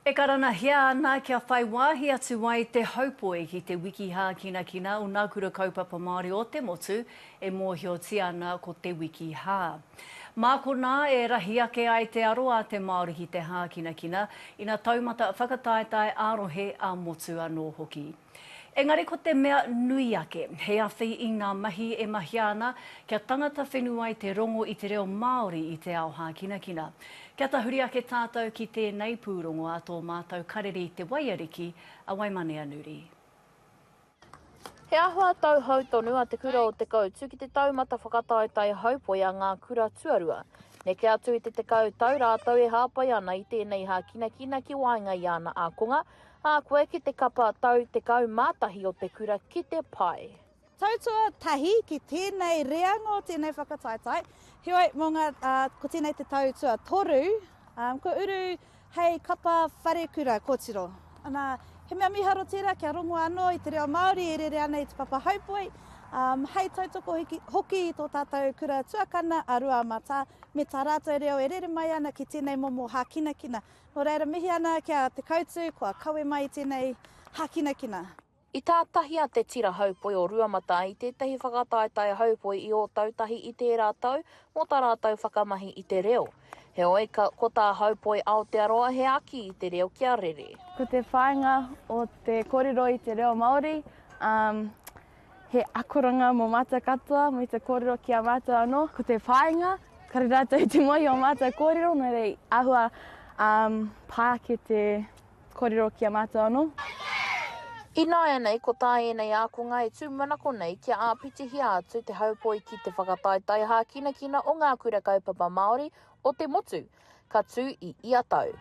E karanahia ana kia whai wāhi atu ai te haupoi ki te wiki hākinakina o Nā Kura Kaupapa Māori o te Motu e mōhiotia ana ko te wiki hā. Mā konā e rahi ake ai te aro a te Māori ki te hākinakina, ina taumata whakataetae ā-rohe, ā-motu anō hoki. Engari ko te mea nui ake, he awhi i ngā mahi e mahia ana kia tangata whenu ai te rongo i te reo Māori i te ao hākinakina. Kia tahuri ake tātou ki tēnei pūrongo a tō mātou kareri Te Waiariki a Waimaneanuri. He āhua tauhou tonu a Te Kura o Te Koutu ki te taumata whakataetae haupoi a ngā kura tuarua. Neke atu i te tekau tau rātou e hāpai ana i tēnei hākinakina ki waenga i ana ākonga, A koe ki te kapa tau tekau ma tahi o te kura ki te pai. Tau tua tahi ki tenei reanga o tenei whakataetae, heoi mo nga ko tenei te tau tua toru kua uru hei kapa wharekura kotiro. Ana he mea miharo tera kia rongo ano i te reo Maori e rere ana i te papa haupoi, hei tautoko hoki i to tatou kura tuakana a Ruamata me ta ratou reo e rere mai ana ki tenei momo hakinakina. Nō reira mihi ana ki a Te Koutu kua kawe mai i tēnei hākinakina. I tātahia te tira haupoi o Ruamata i tētahi whakataetae haupoi i Ōtautahi i tērā tau mō tā rātou whakamahi i te reo. Heoi, ka, ko tā Haupoi Aotearoa he aki i te reo kia rere. Ko te whāinga o te kōrero i te reo Māori, um, he akoranga mō mātou katoa, me te kōrero ki a mātou anō. Ko te whāinga, kare rātou i te mohi o mātou kōrero, nō reira i āhua um, pā ake te kōrero ki a mātou anō. Ināianei ko tā ēnei ākonga e tūmanako nei kia āpitihia atu te haupoi ki te whakataetae hākinakina o ngā kura kaupapa Māori o te motu, ka tū i ia tau.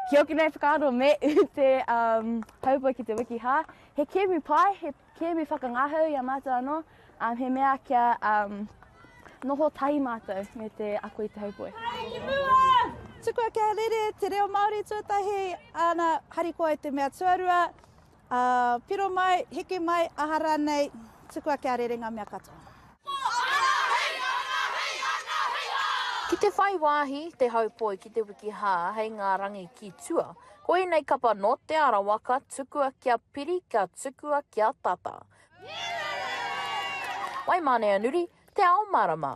Kia oti nei whakaaro me u te um, haupa ki te wiki hā. He kēmu pai, he kēmu whakangahau i a mātou anō, um, he mea kia um, noho tahi mātou me te ako i te haupoe. Tukua kia rere te reo Māori tuatahi, ana harikoa i te mea tuarua, Ā, piro mai, hiki mai, aha rānei, tukua kia rere ngā mea katoa. Ki te whai wāhi te haupoi ki te wiki hā hei ngā rangi ki tua, ko ēnei kapa nō Te Arawa ka tukua kia piri ka tukua kia tata. Waimāneanuri, Te Ao Marama.